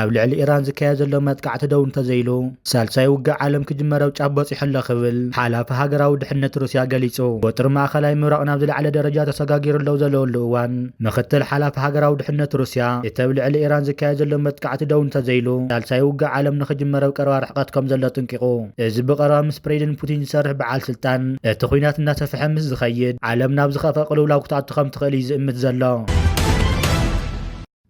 ኣብ ልዕሊ ኢራን ዝካየድ ዘሎ መጥቃዕቲ ደው እንተዘይሉ ሳልሳይ ውግእ ዓለም ክጅመረብ ጫፍ በፂሑ ኣሎ ክብል ሓላፊ ሃገራዊ ድሕነት ሩስያ ገሊጹ። ወጥሪ ማእኸላይ ምብራቕ ናብ ዝለዓለ ደረጃ ተሰጋጊሩ ለው ዘለወሉ እዋን ምክትል ሓላፊ ሃገራዊ ድሕነት ሩስያ፣ እቲ ኣብ ልዕሊ ኢራን ዝካየድ ዘሎ መጥቃዕቲ ደው እንተዘይሉ፣ ሳልሳይ ውግእ ዓለም ንክጅመር ኣብ ቀረባ ርሕቀት ከምዘሎ ኣጥንቂቑ። እዚ ብቐረባ ምስ ፕሬዚደንት ፑቲን ዝሰርሕ በዓል ስልጣን፣ እቲ ኲናት እናሰፍሐ ምስ ዝኸይድ፣ ዓለም ናብ ዝኸፍኣ ቅልውላው ክትኣቱ ከምትኽእል እዩ ዝእምት ዘሎ።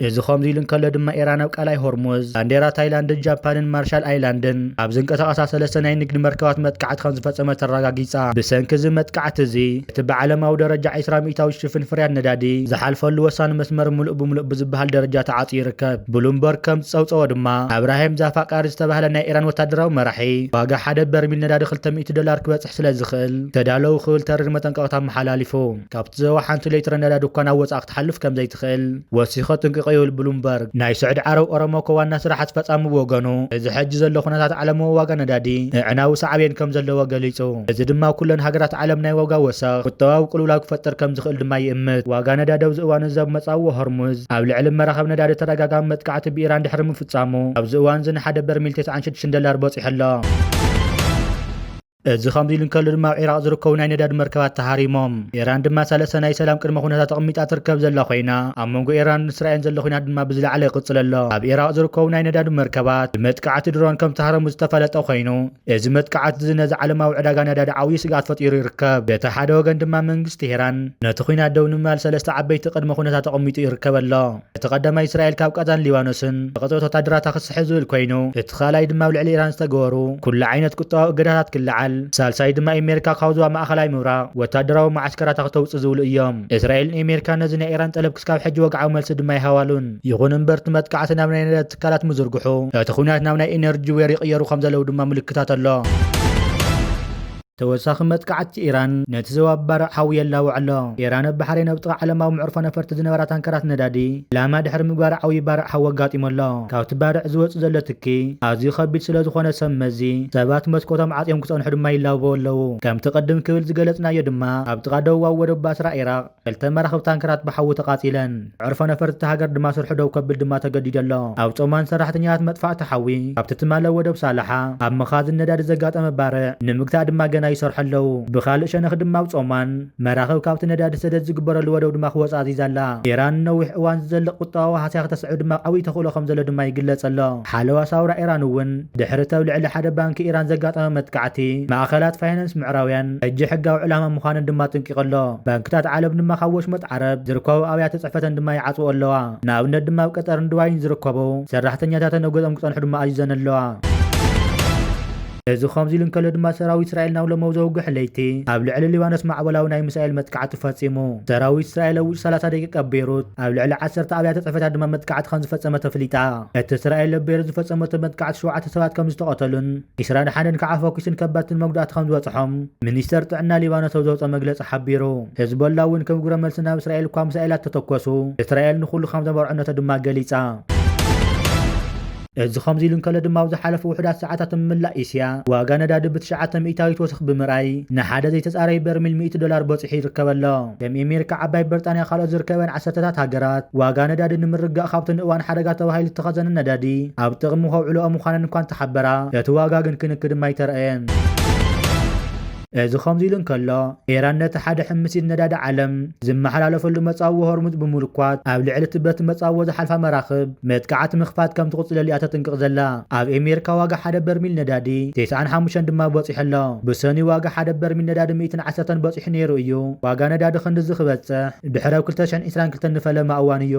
እዚ ከምዚ ኢሉ እንከሎ ድማ ኢራን ኣብ ቀላይ ሆርሙዝ፣ ባንዴራ ታይላንድን ጃፓንን ማርሻል ኣይላንድን ኣብ ዝንቀሳቐሳ ሰለስተ ናይ ንግዲ መርከባት መጥቃዕቲ ከምዝፈጸመት ኣረጋጊጻ። ብሰንኪ እዚ መጥቃዕቲ እዚ፣ እቲ ብዓለማዊ ደረጃ ዕስራ ሚእታዊት ሽፍን ፍርያት ነዳዲ ዝሓልፈሉ ወሳኒ መስመር ምሉእ ብምሉእ ብዝበሃል ደረጃ ተዓጽዩ ይርከብ። ብሉምበርግ ከም ዝጸብጸቦ ድማ፣ ኣብራሂም ዛፋቃሪ ዝተባህለ ናይ ኢራን ወተሃደራዊ መራሒ፣ ዋጋ ሓደ በርሚል ነዳዲ ክልተ ሚእቲ ዶላር ክበጽሕ ስለ ዝኽእል ተዳለዉ ክብል ተሪር መጠንቀቕታ ኣመሓላሊፉ። ካብቲ ዞባ ሓንቲ ሌትረ ነዳዲ እኳ ናብ ወጻኢ ክትሓልፍ ከም ዘይትኽእል፣ ወሲኸ ጥንቅቕ ይብል ብሉምበርግ። ናይ ስዑዲ ዓረብ ኦሮሞኮ ዋና ስራሕ ኣስፈፃሚ ብወገኑ እዚ ሕጂ ዘሎ ኩነታት ዓለምዊ ዋጋ ነዳዲ ንኣዕናዊ ሳዕቤን ከም ዘለዎ ገሊፁ። እዚ ድማ ኣብ ኩለን ሃገራት ዓለም ናይ ዋጋ ወሰኽ፣ ቁጠባዊ ቅልውላው ክፈጥር ከም ዝኽእል ድማ ይእምት። ዋጋ ነዳዲ ኣብዚ እዋን እዚ ኣብ መፃብቦ ሆርሙዝ ኣብ ልዕሊ መራኽብ ነዳዲ ተደጋጋሚ መጥቃዕቲ ብኢራን ድሕሪ ምፍፃሙ ኣብዚ እዋን እዚ ንሓደ በርሚል ተስዓን ሽዱሽተን ደላር በፂሑ ኣሎ። እዚ ከምዚ ኢሉ እንከሎ ድማ ኣብ ዒራቕ ዝርከቡ ናይ ነዳዲ መርከባት ተሃሪሞም። ኢራን ድማ ሰለስተ ናይ ሰላም ቅድመ ኩነታት ኣቕሚጣ ትርከብ ዘላ ኮይና፣ ኣብ መንጎ ኢራንን እስራኤልን ዘሎ ኩናት ድማ ብዝለዓለ ይቕጽል ኣሎ። ኣብ ዒራቕ ዝርከቡ ናይ ነዳዲ መርከባት ብመጥቃዕቲ ድሮን ከም ተሃረሙ ዝተፈለጠ ኮይኑ፣ እዚ መጥቃዕቲ'ዚ ነዚ ዓለማዊ ዕዳጋ ነዳዲ ዓብዪ ስግኣት ፈጢሩ ይርከብ። በቲ ሓደ ወገን ድማ መንግስቲ ኢራን ነቲ ኩናት ደው ንምባል ሰለስተ ዓበይቲ ቅድመ ኩነታት ኣቐሚጡ ይርከብ ኣሎ። እቲ ቀዳማይ እስራኤል ካብ ቓዛን ሊባኖስን ዘቐጽበት ወታደራታ ክትስሕብ ዝብል ኮይኑ እቲ ካልኣይ ድማ ኣብ ልዕሊ ኢራን ዝተገበሩ ኩሉ ዓይነት ቁጠባዊ እገዳታት ክለዓል ሳልሳይ ድማ ኤሜሪካ ካብ ዞባ ማእኸላይ ምብራቕ ወታደራዊ መዓስከራታ ክተውጽእ ዝብሉ እዮም። እስራኤልን ኤሜሪካን ነዚ ናይ ኢራን ጠለብ ክስካብ ሕጂ ወግዓዊ መልሲ ድማ ኣይሃባሉን። ይኹን እምበር እቲ መጥቃዕቲ ናብ ናይ ነዳዲ ትካላት ምዝርግሑ እቲ ኹናት ናብ ናይ ኢነርጂ ዌር ይቕየሩ ከምዘለው ድማ ምልክታት ኣሎ። ተወሳኺ መጥቃዕቲ ኢራን ነቲ ዞባ ባርዕ ሓዊ የላውዕ ኣሎ። ኢራን ኣብ ባሕረይን ኣብ ጥቓ ዓለማዊ መዕርፎ ነፈርቲ ዝነበራ ታንከራት ነዳዲ ዒላማ ድሕሪ ምግባራ ዓብዪ ባርዕ ሓዊ ኣጋጢሙ ኣሎ። ካብቲ ባርዕ ዝወጽእ ዘሎ ትኪ ኣዝዩ ከቢድ ስለዝኾነ ሰብ መዚ ሰባት መስኮቶም ዓጽዮም ክጸንሑ ድማ ይላበዉ ኣለዉ። ከምቲ ቅድም ክብል ዝገለጽናዮ ድማ ኣብ ጥቓ ደቡባዊ ወደብ ባስራ ኢራቕ፣ ክልተ መራኽብ ታንከራት ብሓዊ ተቓጺለን፣ መዕርፎ ነፈርቲ እታ ሃገር ድማ ስርሑ ደው ከብል ድማ ተገዲዱ ኣሎ። ኣብ ጾማን ሰራሕተኛታት መጥፋእቲ ሓዊ ካብቲ ትማሊ ኣብ ወደብ ሳላሓ ኣብ መኻዝን ነዳዲ ዘጋጠመ ባርዕ ንምግታእ ድማ ገና ይሰርሑ ኣለዉ። ብኻልእ ሸነኽ ድማ ኣብ ጾማን፣ መራኽብ ካብቲ ነዳዲ ሰደድ ዝግበረሉ ወደብ ድማ ክወጻ ኣዚዛ ኣላ። ኢራን ንነዊሕ እዋን ዝዘልቕ ቁጠባዊ ሃስያ ክተስዕብ ድማ ዓብዪ ተኽእሎ ከም ዘሎ ድማ ይግለጽ ኣሎ። ሓለዋ ሳውራ ኢራን እውን ድሕሪ እቲ ኣብ ልዕሊ ሓደ ባንኪ ኢራን ዘጋጠመ መጥቃዕቲ፣ ማእከላት ፋይናንስ ምዕራብያን፣ ሕጂ ሕጋዊ ዕላማ ምዃነን ድማ ኣጥንቂቑ ኣሎ። ባንክታት ዓለም ድማ ካብ ወሽመጥ ዓረብ ዝርከቡ ኣብያተ ጽሕፈተን ድማ ይዓጽውኦ ኣለዋ። ንኣብነት ድማ ኣብ ቀጠርን ዱባይን ዝርከቡ ሰራሕተኛታተን ኣጎጠም ክጸንሑ ድማ ኣዚዘን ኣለዋ። እዚ ከምዚ ኢሉ እንከሎ ድማ ሰራዊት እስራኤል ናብ ሎሞው ዘውግሕ ለይቲ ኣብ ልዕሊ ሊባኖስ ማዕበላዊ ናይ ሚሳኤል መጥቃዕቲ ፈጺሙ። ሰራዊት እስራኤል ኣብ ውሽጢ ሰላሳ ደቂቅ ኣብ ቤይሩት ኣብ ልዕሊ ዓሰርተ ኣብያተ ጽሕፈታት ድማ መጥቃዕቲ ከምዝፈጸመት ኣፍሊጣ። እቲ እስራኤል ኣብ ቤይሩት ዝፈጸመቶ መጥቃዕቲ ሸውዓተ ሰባት ከምዝተቐተሉን፣ ዒስራ ደሓንን ከዓ ፈኲስን ከበድትን መጉዳእቲ ከምዝበፅሖም ሚኒስቴር ጥዕና ሊባኖስ ኣብ ዘውፀኦ መግለፂ ሓቢሩ። ሄዝቦላ እውን ከም ግብረ መልሲ ናብ እስራኤል እኳ ምሳኤላት ተተኮሱ እስራኤል ንኹሉ ከምዘመርዐነቶ ድማ ገሊፃ። እዚ ከምዚ ኢሉ እንከሎ ድማ ኣብ ዝሓለፉ ውሑዳት ሰዓታት ኣብ መላእ እስያ ዋጋ ነዳዲ ብትሽዓተ ሚእታዊት ወሰኽ ብምርኣይ ንሓደ ዘይተፃረዩ በርሚል ሚእቲ ዶላር በፂሑ ይርከብ ኣሎ። ከም ኤሜሪካ፣ ዓባይ ብርጣንያ ካልኦት ዝርከበን ዓሰርተታት ሃገራት፣ ዋጋ ነዳዲ ንምርግጋእ ካብቲ ንእዋን ሓደጋ ተባሂሉ ዝተኸዘነ ነዳዲ ኣብ ጥቕሚ ከውዕልኦ ምዃነን እኳ እንተሓበራ፣ እቲ ዋጋ ግን ክንኪ ድማ ኣይተራእየን። እዚ ከምዚ'ሉ እንከሎ፣ ኢራን ነቲ ሓደ ሕምሲት ነዳዲ ዓለም ዝመሓላለፈሉ መጻብቦ ሆርሙዝ ብምልኳት ኣብ ልዕሊ'ቲ በቲ መጻብቦ ዝሓልፋ መራኽብ፣ መጥቃዕቲ ምኽፋት ከም ትቕጽለሉ እያ ተጥንቅቕ ዘላ። ኣብ ኤሜርካ ዋጋ ሓደ በርሚል ነዳዲ ቴስዓን ሓሙሽተን ድማ በጺሑ ኣሎ። ብሰኑይ ዋጋ ሓደ በርሚል ነዳዲ ሚእትን ዓሰርተን በጺሑ ነይሩ እዩ። ዋጋ ነዳዲ ክንድዚ ክበጽሕ ድሕሪ ኣብ ክልተ ሽሕን ዕስራን ክልተን ንፈለማ እዋን እዩ።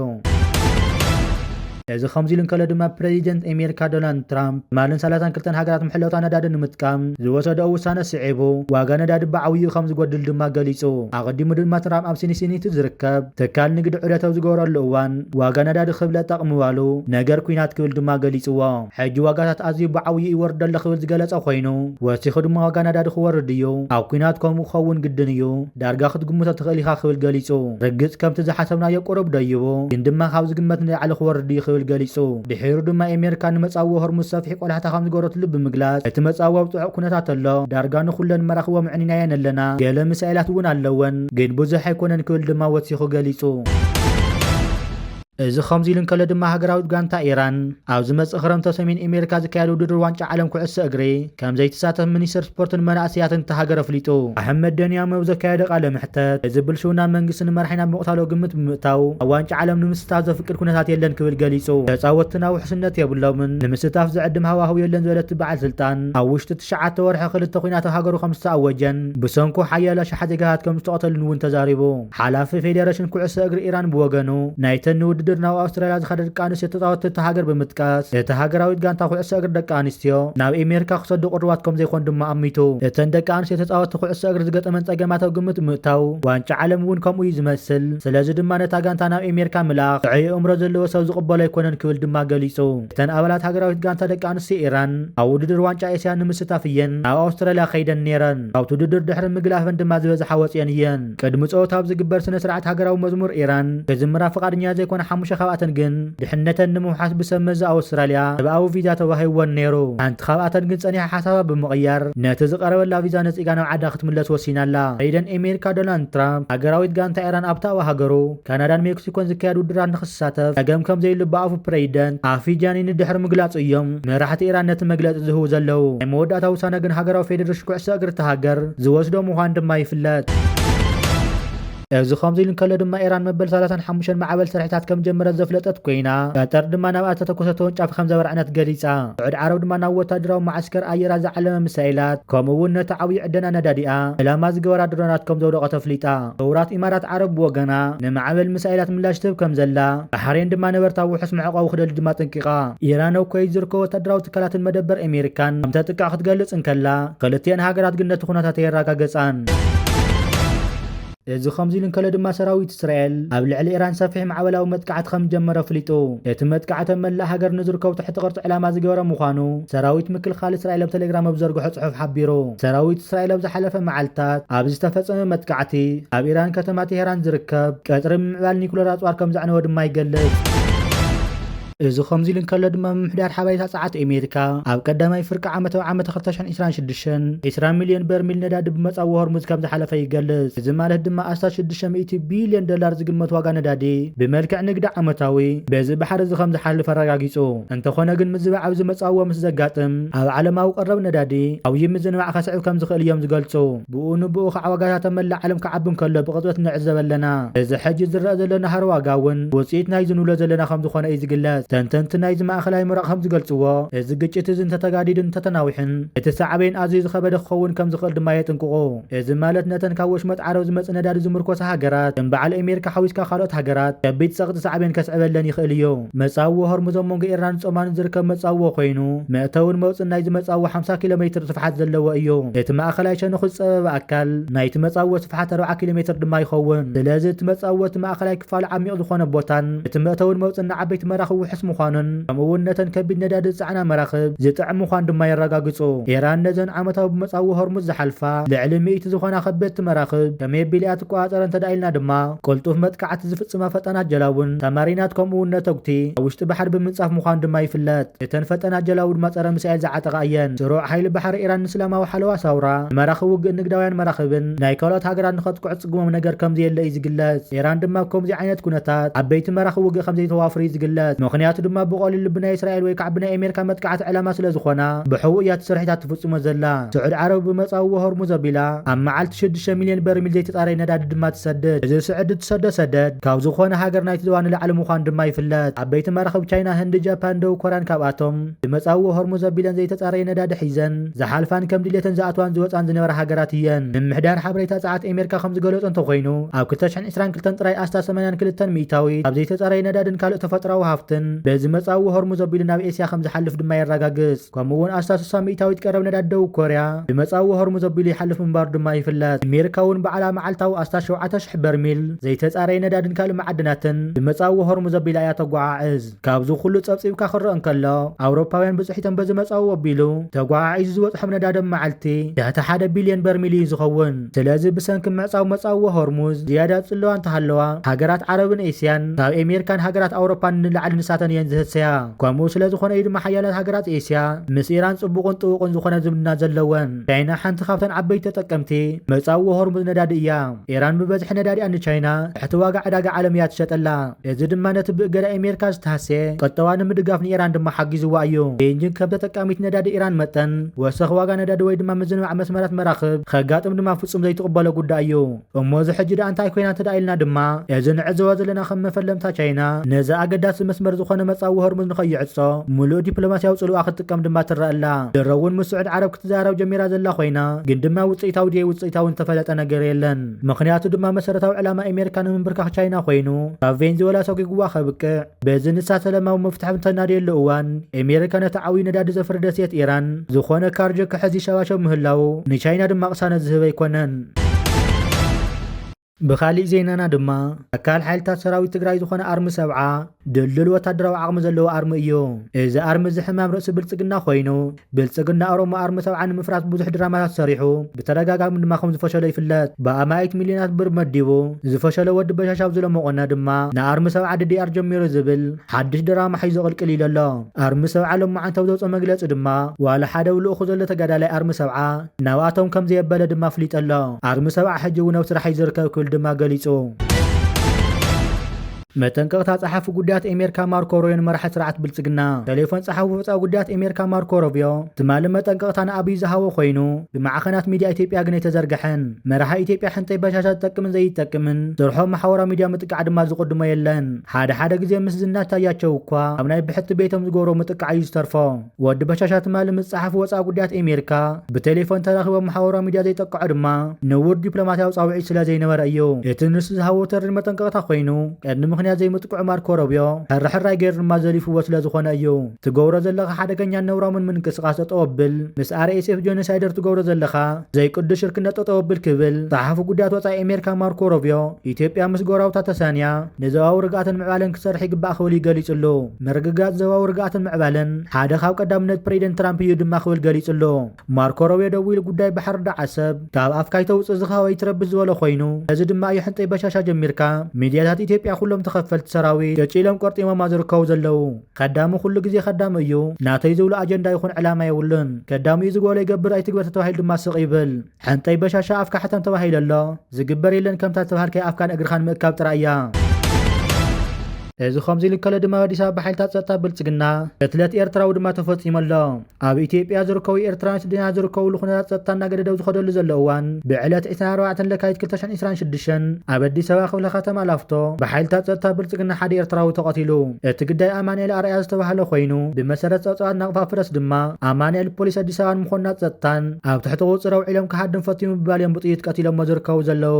እዚ ከምዚሉ እንከሎ ድማ ፕረዚደንት ኤሜርካ ዶናልድ ትራምፕ ትማልን ሰላሳን ክልተን ሃገራት መሐለውታ ነዳዲ ንምጥቃም ዝወሰደኦ ውሳነ ስዒቡ ዋጋ ነዳዲ ብዓብይኡ ከም ዝጎድል ድማ ገሊጹ። ኣቐዲሙ ድማ ትራምፕ ኣብ ሲንሲኒቲ ዝርከብ ትካል ንግዲ ዑደት ኣብ ዝገበረሉ እዋን፣ ዋጋ ነዳዲ ክብለ ጠቕምዋሉ፣ ነገር ኲናት ክብል ድማ ገሊጽዎ። ሕጂ ዋጋታት ኣዝዩ ብዓብይኡ ይወርድ ኣሎ ክብል ዝገለጸ ኮይኑ፣ ወሲኹ ድማ ዋጋ ነዳዲ ክወርድ እዩ፣ ኣብ ኲናት ከምኡ ክኸውን ግድን እዩ፣ ዳርጋ ክትግምቶ ትኽእል ኢኻ ክብል ገሊጹ። ርግጽ ከምቲ ዝሓሰብናዮ ቁሩብ ደይቡ፣ ግን ድማ ካብ ዝግመት ንላዕሊ ክወርድ እዩ ክብል ገሊጹ። ድሒሩ ድማ ኤሜሪካ ንመጻብቦ ሆርሙዝ ሰፊሕ ቆላሕታ ከም ዝገበረትሉ ብምግላጽ፣ እቲ መጻብቦ ኣብ ጽዑቕ ኩነታት ኣሎ፣ ዳርጋ ንኹለን መራኽቦ ምዕኒናየን ኣለና፣ ገለ ሚሳኤላት እውን ኣለወን። ግን ብዙሕ ኣይኮነን ክብል ድማ ወሲኹ ገሊጹ። እዚ ከምዚሉ እንከሎ ድማ ሃገራዊት ጋንታ ኢራን ኣብ ዝመጽእ ክረምቲ ኣብ ሰሜን ኤሜሪካ ዝካየድ ውድድር ዋንጫ ዓለም ኩዕሶ እግሪ ከምዘይትሳተፍ ሚኒስተር ስፖርትን መናእሰያትን እታ ሃገር ኣፍሊጡ። ኣሕመድ ደንያም ኣብ ዘካየዶ ቃለ መሕተት፣ እዚ ብልሽውና መንግስቲ ንመራሒና ኣብ ምቕታል ኣብ ግምት ብምእታው ኣብ ዋንጫ ዓለም ንምስታፍ ዘፍቅድ ኩነታት የለን ክብል ገሊጹ። ተጻወትትና ውሕስነት የብሎምን፣ ንምስታፍ ዝዕድም ሃዋህው የለን ዝበለ እቲ በዓል ስልጣን፣ ኣብ ውሽጢ ትሽዓተ ወርሒ ክልተ ኲናት ኣብ ሃገሩ ከምዝተኣወጀን፣ ብሰንኩ ሓያሎ ኣሽሓት ዜጋታት ከም ዝተቐተሉን እውን ተዛሪቡ። ሓላፊ ፌዴሬሽን ኩዕሶ እግሪ ኢራን ብወገኑ፣ ናይተን ንውድድር ናብ ኣውስትራልያ ዝኸዳ ደቂ ኣንስትዮ ተጻወትቲ እታ ሃገር ብምጥቃስ፣ እታ ሃገራዊት ጋንታ ኩዕሶ እግሪ ደቂ ኣንስትዮ ናብ ኤሜሪካ ክሰዱ ቅሩባት ከም ዘይኮኑ ድማ ኣሚቱ። እተን ደቂ ኣንስትዮ ተጻወትቲ ኩዕሶ እግሪ ዝገጠመን ጸገማት ኣብ ግምት ብምእታው፣ ዋንጫ ዓለም እውን ከምኡ እዩ ዝመስል፣ ስለዚ ድማ ነታ ጋንታ ናብ ኤሜሪካ ምልኣኽ ጥዑይ ኣእምሮ ዘለዎ ሰብ ዝቕበሎ ኣይኮነን ክብል ድማ ገሊጹ። እተን ኣባላት ሃገራዊት ጋንታ ደቂ ኣንስትዮ ኢራን፣ ኣብ ውድድር ዋንጫ ኤስያ ንምስታፍ እየን ናብ ኣውስትራልያ ከይደን ነይረን። ካብቲ ውድድር ድሕሪ ምግላፈን ድማ ዝበዝሓ ወጺኤን እየን። ቅድሚ ጸወታ ኣብ ዝግበር ስነ-ስርዓት ሃገራዊ መዝሙር ኢራን ክዝምራ ፍቓድኛ ዘይኮና ሓሙሽተ ካብኣተን ግን ድሕነተን ንምውሓስ ብሰብ መዚ ኣውስትራልያ ሰብኣዊ ቪዛ ተዋሂብወን ነይሩ። ሓንቲ ካብኣተን ግን ጸኒሓ ሓሳባ ብምቕያር ነቲ ዝቐረበላ ቪዛ ነጺጋ ናብ ዓዳ ክትምለስ ወሲና ኣላ። ፕሬዚደንት ኤሜሪካ ዶናልድ ትራምፕ ሃገራዊት ጋንታ ኢራን ኣብታ ኣብ ሃገሩ ካናዳን ሜክሲኮን ዝካየድ ውድራት ንክሳተፍ ጸገም ከም ዘይሉ ብኣፉ ፕረይደንት ኣፊጃኒኒ ድሕሪ ምግላጹ እዮም መራሕቲ ኢራን ነቲ መግለጺ ዝህቡ ዘለዉ። ናይ መወዳእታ ውሳነ ግን ሃገራዊ ፌደረሽን ኩዕሶ እግሪ እታ ሃገር ዝወስዶ ምዃኑ ድማ ይፍለጥ። እዚ ከምዚ ኢሉ እንከሎ ድማ ኢራን መበል ሰላሳን ሓሙሽተን ማዕበል ስርሒታት ከም ዝጀመረት ዘፍለጠት ኮይና፣ ቀጠር ድማ ናብኣ ዝተተኮሰ ተወንጫፊ ከም ዘብርዐነት ገሊጻ። ስዑድ ዓረብ ድማ ናብ ወተሃደራዊ መዓስከር ኣየራት ዝዓለመ ሚሳኤላት ከምኡ እውን ነቲ ዓብዩ ዕደና ነዳዲኣ ዕላማ ዝገበራ ድሮናት ከም ዘውደቐት ኣፍሊጣ። ሕቡራት ኢማራት ዓረብ ብወገና፣ ንማዕበል ሚሳይላት ምላሽ ትህብ ከምዘላ፣ ባሕሬን ድማ ነበርታ ውሑስ መዕቖቢ ክደሊ ድማ ኣጠንቂቓ። ኢራን ኣብ ኩወይት ዝርከቡ ወታደራዊ ትካላትን መደበር ኣሜሪካን ከምተጥቅዕ ክትገልጽ እንከላ፣ ክልቲኤን ሃገራት ግን ነቲ ኩነታት ኣየረጋገጻን። እዚ ከምዚ ኢሉ እንከሎ ድማ ሰራዊት እስራኤል ኣብ ልዕሊ ኢራን ሰፊሕ ማዕበላዊ መጥቃዕቲ ከምዝጀመረ ኣፍሊጡ። እቲ መጥቃዕቲ ኣብ መላእ ሃገር ንዝርከቡ ትሕቲ ቅርጺ ዕላማ ዝገበረ ምዃኑ ሰራዊት ምክልኻል እስራኤል ኣብ ተሌግራም ኣብ ዝዘርግሖ ጽሑፍ ሓቢሩ። ሰራዊት እስራኤል ኣብ ዝሓለፈ መዓልታት ኣብ ዝተፈጸመ መጥቃዕቲ ኣብ ኢራን ከተማ ቴህራን ዝርከብ ቀጽሪ ብምዕባል ኒኩለር ኣጽዋር ከም ዘዕነወ ድማ ይገልጽ። እዚ ከምዚ ኢሉ እንከሎ ድማ ምምሕዳር ሓበሬታ ጸዓት ኣሜሪካ ኣብ ቀዳማይ ፍርቂ ዓመታዊ ዓመት 2026 20 ሚልዮን በርሚል ነዳዲ ብመጻዊ ሆርሙዝ ከም ዝሓለፈ ይገልጽ። እዚ ማለት ድማ ኣስታት 600 ቢልዮን ዶላር ዝግመት ዋጋ ነዳዲ ብመልክዕ ንግዲ ዓመታዊ በዚ ባሕሪ እዚ ከም ዝሓልፍ ኣረጋጊጹ። እንተኾነ ግን ምዝባዕ ኣብ ዝመጻዎ ምስ ዘጋጥም ኣብ ዓለማዊ ቀረብ ነዳዲ ዓውዪ ምዝንባዕ ከስዕብ ከም ዝኽእል እዮም ዝገልጹ። ብኡ ንብኡ ከኣ ዋጋታት ኣብ መላእ ዓለም ክዓቢ እንከሎ ብቕጽበት ንዕዘብ ኣለና። እዚ ሕጂ ዝረኣ ዘሎ ናህሪ ዋጋ እውን ውጽኢት ናይዚ ንብሎ ዘለና ከም ዝኾነ እዩ ዝግለጽ። ተንተንቲ ናይዚ ማእከላይ ምብራቕ ከም ዝገልጽዎ እዚ ግጭት እዚ እንተተጋዲዱን እንተተናዊሑን እቲ ሳዕቤን ኣዝዩ ዝኸበደ ክኸውን ከም ዝኽእል ድማ የጥንቅቑ። እዚ ማለት ነተን ካብ ወሽመጥ ዓረብ ዝመጽእ ነዳዲ ዝምርኮሳ ሃገራት፣ ከም በዓል ኤሜሪካ ሓዊስካ ካልኦት ሃገራት፣ ከቢድ ጸቕጢ ሳዕቤን ከስዕበለን ይኽእል እዩ። መጻብቦ ሆርሙዝ ኣብ መንጎ ኢራንን ጾማንን ዝርከብ መጻብቦ ኮይኑ፣ መእተውን መውጽእን ናይዚ መጻብቦ ሓምሳ ኪሎ ሜትር ስፍሓት ዘለዎ እዩ። እቲ ማእከላይ ሸነኹ ዝጸበበ ኣካል ናይቲ መጻብቦ ስፍሓት ኣርብዓ ኪሎ ሜትር ድማ ይኸውን። ስለዚ እቲ መጻብቦ እቲ ማእከላይ ክፋሉ ዓሚቕ ዝኾነ ቦታን እቲ መእተውን መውጽእን ንዓበይቲ መራኽብ ውሑስ ምዃኑን፣ ከምኡ'ውን ነተን ከቢድ ነዳዲ ዝጸዓና መራኽብ ዝጥዕም ምዃኑ ድማ የረጋግጹ። ኢራን ነዘን ዓመታዊ ብመጻብቦ ሆርሙዝ ዝሓልፋ ልዕሊ ሚእቲ ዝኾና ከበድቲ መራኽብ ከመይ ኣቢላ'ያ ትቆጻጸረን እንተድኣ ኢልና ድማ፣ ቅልጡፍ መጥቃዕቲ ዝፍጽማ ፈጣናት ጀላቡን ሳማሪናት ከምኡ'ውን ነተጉቲ ኣብ ውሽጢ ባሕሪ ብምንጻፍ ምዃኑ ድማ ይፍለጥ። እተን ፈጣናት ጀላቡ ድማ ጸረ ሚሳኤል ዝዓጠቓ እየን። ስሩዕ ሓይሊ ባሕሪ ኢራን ንእስላማዊ ሓለዋ ሳውራ፣ ንመራኽብ ውግእን ንግዳውያን መራኽብን ናይ ካልኦት ሃገራት ንኸጥቅዑ፣ ትጥግሞም ነገር ከምዘየለ እዩ ዝግለጽ። ኢራን ድማ ኣብ ከምዚ ዓይነት ኩነታት ዓበይቲ መራኽብ ውግእ ከምዘይተዋፍር እዩ ዝግለጽ። ምኽንያቱ ድማ ብቐሊሉ ብናይ እስራኤል ወይ ከዓ ብናይ ኣሜሪካ መጥቃዕቲ ዕላማ ስለዝኾና ብሕቡእ እያ እቲ ስርሒታ ትፍጽሞ ዘላ። ስዑድ ዓረብ ብመጻብቦ ሆርሙዝ ኣቢላ ኣብ መዓልቲ ሽዱሽተ ሚልዮን በርሚል ዘይተጻረየ ነዳዲ ድማ ትሰድድ። እዚ ስዕዲ እትሰዶ ሰደድ ካብ ዝኾነ ሃገር ናይቲ ዞባ ንላዕሊ ምዃኑ ድማ ይፍለጥ። ዓበይቲ መራኽብ ቻይና፣ ህንዲ፣ ጃፓን፣ ደቡብ ኮርያን ካብኣቶም። ብመጻብቦ ሆርሙዝ ኣቢለን ዘይተጻረየ ነዳዲ ሒዘን ዝሓልፋን ከም ድሌተን ዝኣትዋን ዝወጻን ዝነበራ ሃገራት እየን። ምምሕዳር ሓበሬታ ጸዓት ኤሜርካ ከም ዝገለጾ እንተኾይኑ፣ ኣብ ክልተ ሽሕን ዕስራን ክልተን ጥራይ ኣስታት ሰማንያን ክልተን ሚእታዊት ካብ ዘይተጻረየ ነዳድን ካልእ ተፈጥሮኣዊ ሃፍትን በዚ መጻብቦ ሆርሙዝ ኣቢሉ ናብ ኤስያ ከም ዝሓልፍ ድማ የረጋግጽ። ከምኡ'ውን ኣስታት ስሳ ሚእታዊት ቀረብ ነዳዲ ደቡብ ኮርያ ብመጻብቦ ሆርሙዝ ኣቢሉ ይሓልፍ ምንባሩ ድማ ይፍለጥ። ኤሜርካ'ውን ባዕላ መዓልታዊ ኣስታት ሸውዓተ ሽሕ በርሚል ዘይተጻረየ ነዳድን ካልእ መዓድናትን ብመጻብቦ ሆርሙዝ ኣቢላ እያ ተጓዓዕዝ። ካብዚ ኩሉ ጸብጺብካ ክረእ እንከሎ ኣውሮፓውያን ብጽሒቶም በዚ መጻኡ ወቢሉ ተጓዓዒዙ ዝበጽሖም ነዳዲ ብ መዓልቲ ትሕቲ ሓደ ቢልዮን በርሚል እዩ ዝኸውን። ስለዚ ብሰንኪ ምዕጻው መጻውዎ ሆርሙዝ ዝያዳ ጽልዋ እንተሃለዋ ሃገራት ዓረብን ኤስያን ካብ ኤሜርካን ሃገራት ኣውሮፓን ንላዕሊ ንሳተን እየን ዝህሰያ። ከምኡ ስለ ዝኾነ እዩ ድማ ሓያላት ሃገራት ኤስያ ምስ ኢራን ጽቡቕን ጥቡቕን ዝኾነ ዝምድና ዘለወን። ቻይና ሓንቲ ካብተን ዓበይቲ ተጠቀምቲ መጻውዎ ሆርሙዝ ነዳዲ እያ። ኢራን ብበዝሒ ነዳዲኣ ንቻይና ትሕቲ ዋጋ ዕዳጋ ዓለም እያ ትሸጠላ። እዚ ድማ ነቲ ብእገዳ ኤሜርካ ዝተሃስየ ቁጠባ ንምድጋፍ ንኢራን ድማ ሓጊዝዋ እዩ። ቤይጂንግ ከም ተጠቃሚት ነዳዲ ኢራን መጠን፣ ወሰኽ ዋጋ ነዳዲ ወይ ድማ ምዝንባዕ መስመራት መራኽብ ከጋጥም ድማ ፍጹም ዘይትቕበሎ ጉዳይ እዩ። እሞ እዚ ሕጂ ድኣ እንታይ ኮይና እንተድኣ ኢልና ድማ፣ እዚ ንዕዘቦ ዘለና ከም መፈለምታ ቻይና ነዚ ኣገዳሲ መስመር ዝኾነ መጻብቦ ሆርሙዝ ንኸይዕጾ ምሉእ ዲፕሎማስያዊ ጽልዋኣ ክትጥቀም ድማ ትረኣ ኣላ። ድሮ እውን ምስ ስዑድ ዓረብ ክትዘራረብ ጀሚራ ዘላ ኮይና፣ ግን ድማ ውጽኢታዊ ድየ ውጽኢታዊ ዝተፈለጠ ነገር የለን። ምኽንያቱ ድማ መሰረታዊ ዕላማ ኤሜሪካ ንምንብርካኽ ቻይና ኮይኑ ካብ ቬንዝወላ ሰጒጉዋ ከብቅዕ በዚ ንሳ ሰለማዊ መፍትሒ ብተናድየሉ እዋን ኤሜሪካ ነቲ ዓብዩ ነዳዲ ዘፍሪ ደሴት ኢራን ዝኾነ ካርጅ ክሕዝ ይሸባሸብ ምህላዉ ንቻይና ድማ ቅሳነት ዝህብ ኣይኮነን። ብኻሊእ ዜናና ድማ ኣካል ሓይልታት ሰራዊት ትግራይ ዝኾነ ኣርሚ ሰብዓ ድልዱል ወታደራዊ ዓቕሚ ዘለዎ ኣርሚ እዩ። እዚ ኣርሚ እዚ ሕማም ርእሲ ብልፅግና ኮይኑ ብልፅግና ኦሮሞ ኣርሚ ሰብዓ ንምፍራስ ብዙሕ ድራማታት ሰሪሑ ብተደጋጋሚ ድማ ከም ዝፈሸሎ ይፍለጥ። ብኣማኢት ሚልዮናት ብር መዲቡ ዝፈሸሎ ወዲ በሻሻ ኣብዚ ሎሚ ቁነ ድማ ንኣርሚ ሰብዓ ድዲኣር ጀሚሩ ዝብል ሓዱሽ ድራማ ሒዙ ቅልቅል ኢሉ ኣሎ። ኣርሚ ሰብዓ ሎማዓንቲ ኣብ ዘውፅኦ መግለፂ ድማ ዋላ ሓደ ኣብ ልኡኹ ዘሎ ተጋዳላይ ኣርሚ ሰብዓ ናብኣቶም ከም ዘየበለ ድማ ኣፍሊጡ ኣሎ። ኣርሚ ሰብዓ ሕጂ እውን ኣብ ስራሕ እዩ ዝርከብ ክብል ድማ ገሊፁ። መጠንቀቕታ ጸሓፊ ጉዳያት ኤሜርካ ማርኮ ሮዮን መራሒ ስርዓት ብልጽግና ተሌፎን ጸሓፊ ወጻኢ ጉዳያት ኤሜርካ ማርኮ ሮብዮ ትማሊ መጠንቀቕታ ንኣብይ ዝሃቦ ኮይኑ ብማዕኸናት ሚድያ ኢትዮጵያ ግን ኣይተዘርገሐን። መራሒ ኢትዮጵያ ሕንጠይ በሻሻ ዝጠቅምን ዘይጠቅምን ስርሖ ማሓወራዊ ሚድያ ምጥቃዕ ድማ ዝቕድሞ የለን። ሓደ ሓደ ግዜ ምስ ዝናሽ ታያቸው እኳ ኣብ ናይ ብሕቲ ቤቶም ዝገብሮ ምጥቃዕ እዩ ዝተርፎ። ወዲ በሻሻ ትማሊ ምስ ጸሓፊ ወጻኢ ጉዳያት ኤሜሪካ ብቴሌፎን ተራኺቦም መሓውራዊ ሚድያ ዘይጠቅዖ ድማ ንቡር ዲፕሎማትያዊ ጻውዒት ስለ ዘይነበረ እዩ። እቲ ንሱ ዝሃቦ ተሪር መጠንቀቕታ ኮይኑ ቀንዲ ምኽንያት ዘይምጥቅዑ ማርኮ ሮብዮ ሕርሕራይ ገይሩ ድማ ዘሊፍዎ ስለ ዝኾነ እዩ። ትገብሮ ዘለኻ ሓደገኛን ነውራሙን ምንቅስቓስ ጠጠው ኣብል፣ ምስ RSF ጆኖሳይደር ትገብሮ ዘለኻ ዘይቅዱስ ሽርክነት ጠጠው ኣብል ክብል ጸሓፊ ጉዳያት ወጻኢ ኤሜሪካ ማርኮ ሮብዮ ኢትዮጵያ ምስ ጎረባብታ ተሳንያ ንዞባዊ ርግኣትን ምዕባለን ክሰርሕ ይግባእ ክብል ገሊጹ'ሎ። ምርግጋጽ ዞባዊ ርግኣትን ምዕባለን ሓደ ካብ ቀዳምነት ፕረዚደንት ትራምፕ እዩ ድማ ክብል ገሊጹ'ሎ። ማርኮ ሮብዮ ደዊሉ ጉዳይ ባሕሪ ዳዓሰብ ካብ ኣፍካ ኣይተውጽእ ዝኸ ኣይትረብሽ ዝበሎ ኮይኑ፣ እዚ ድማ እዩ ሕንጠይ በሻሻ ጀሚርካ ሚድያታት ኢትዮጵያ ኩሎም ተኸፈልቲ ሰራዊት ጭጭ ኢሎም ቆርጢሞማ ዝርከቡ ዘለዉ። ከዳሚ ኩሉ ግዜ ከዳሚ እዩ። ናተይ ዝብሎ ኣጀንዳ ይኹን ዕላማ የብሉን። ከዳሚኡ ዝጎሎ ይገብር ኣይትግበር ተተባሂሉ ድማ ስቕ ይብል። ሕንጠይ በሻሻ ኣፍካ ሕተም ተባሂለ ኣሎ ዝግበር የለን ከምታ ዝተባሃልካያ ኣፍካን እግርኻን ምእካብ ጥራይ እያ። እዚ ከምዚ ኢሉ ከሎ ድማ ኣዲስ ኣበባ ሓይልታት ጸጥታ ብልጽግና ቅትለት ኤርትራዊ ድማ ተፈጺሙ ኣሎ። ኣብ ኢትዮጵያ ዝርከቡ ኤርትራውያን ስደተኛታት ዝርከብሉ ኩነታት ጸጥታ እናገደደ ኣብ ዝኸደሉ ዘሎ እዋን ብዕለት 24 ለካቲት 2026 ኣብ ኣዲስ ኣበባ ክፍለ ከተማ ላፍቶ ብሓይልታት ጸጥታ ብልጽግና ሓደ ኤርትራዊ ተቐቲሉ። እቲ ግዳይ ኣማኒኤል ኣርኣያ ዝተባህለ ኮይኑ ብመሰረት ጸብጻባት ናቕፋ ፕረስ ድማ ኣማኒኤል ፖሊስ ኣዲስ ኣበባን መኮንናት ጸጥታን ኣብ ትሕቲ ቁጽጽር ኣውዒሎም ክሃድም ፈትዩ ምባል እዮም ብጥይት ቀቲሎሞ ዝርከቡ ዘለዉ።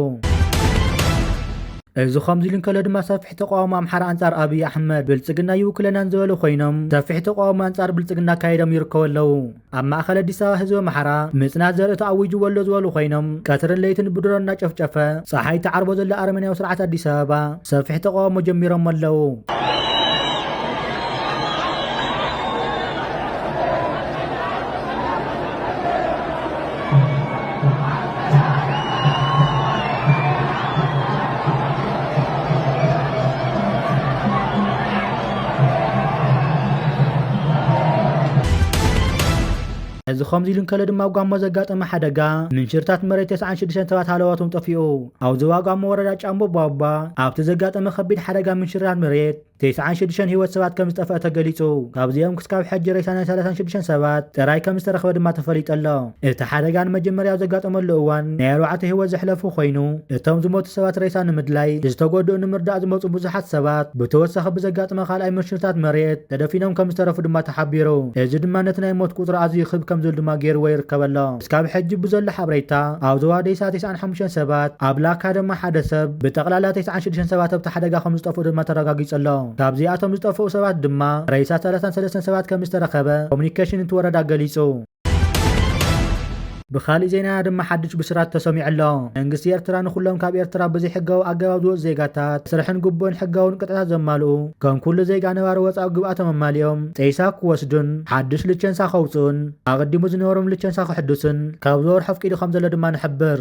እዚ ከምዚ ኢሉ እንከሎ ድማ ሰፊሕ ተቃውሞ ኣምሓራ ኣንጻር ኣብይ ኣሕመድ ብልጽግና ኣይውክለናን ዝበሉ ኮይኖም ሰፊሕ ተቃውሞ ኣንጻር ብልጽግና ኣካይዶም ይርከቡ ኣለዉ። ኣብ ማእኸል ኣዲስ ኣበባ ህዝቢ ኣምሓራ ምፅናት ዘርኢ ተኣዊጅዎ ኣሎ ዝበሉ ኮይኖም ቀትርን ለይትን ብድሮን እናጨፍጨፈ ፀሓይ እትዓርቦ ዘሎ ኣረመኔያዊ ስርዓት ኣዲስ ኣበባ ሰፊሕ ተቓውሞ ጀሚሮሞ ኣለው። እዚ ከምዚ ኢሉ እንከሎ ድማ ጓሞ ዘጋጠመ ሓደጋ ምንሽርታት መሬት 96 ሰባት ሃለዋቶም ጠፊኡ። ኣብ ዞባ ጓሞ ወረዳ ጫምቦ ቧቧ ኣብቲ ዘጋጠመ ከቢድ ሓደጋ ምንሽርታት መሬት ተስዓን ሽዱሽተን ህይወት ሰባት ከምዝጠፍኣ ተገሊፁ። ካብዚኦም ክስካብ ሕጂ ሬሳ ናይ ሰላሳን ሽዱሽተን ሰባት ጥራይ ከምዝተረኽበ ድማ ተፈሊጡ ኣሎ። እቲ ሓደጋ ንመጀመርያ ኣብ ዘጋጠመሉ እዋን ናይ ኣርባዕተ ህይወት ዘሕለፉ ኮይኑ፣ እቶም ዝሞቱ ሰባት ሬሳ ንምድላይ ዝተጎድኡ ንምርዳእ ዝመፁ ብዙሓት ሰባት ብተወሳኺ ብዘጋጥመ ካልኣይ ምርሽርታት መሬት ተደፊኖም ከምዝተረፉ ድማ ተሓቢሩ። እዚ ድማ ነቲ ናይ ሞት ቁፅሪ ኣዝዩ ክብ ከምዝብል ድማ ገይርዎ ይርከብ ኣሎ። እስካብ ሕጂ ብዘሎ ሓብሬታ ኣብ ዞባ ዴሳ ተስዓን ሓሙሽተን ሰባት ኣብ ላካ ድማ ሓደ ሰብ ብጠቅላላ ተስዓን ሽዱሽተን ሰባት ኣብቲ ሓደጋ ከምዝጠፍኡ ድማ ተረጋጊጹ ኣሎ። ካብዚኣቶም ዝጠፍኡ ሰባት ድማ ሬሳ ሰላሳን ሰለስተን ሰባት ከምዝተረኸበ ኮሙኒኬሽን እቲ ወረዳ ገሊጹ። ብኻሊእ ዜናና ድማ ሓዱሽ ብስራት ተሰሚዑ ኣሎ። መንግስቲ ኤርትራ ንኹሎም ካብ ኤርትራ ብዘይሕጋዊ ኣገባብ ዝወጹ ዜጋታት መስርሕን ግቡእን ሕጋውን ቅጥዕታት ዘማልኡ ከም ኩሉ ዜጋ ነባሪ ወጻኡ ግብኣቶም ኣማሊኦም ጤሳ ክወስዱን ሓዱሽ ልቸንሳ ከውጽኡን ኣቐዲሙ ዝነበሮም ልቸንሳ ክሕዱስን ካብ ዝወርሖ ኣፍቂዱ ከም ዘሎ ድማ ንሕብር።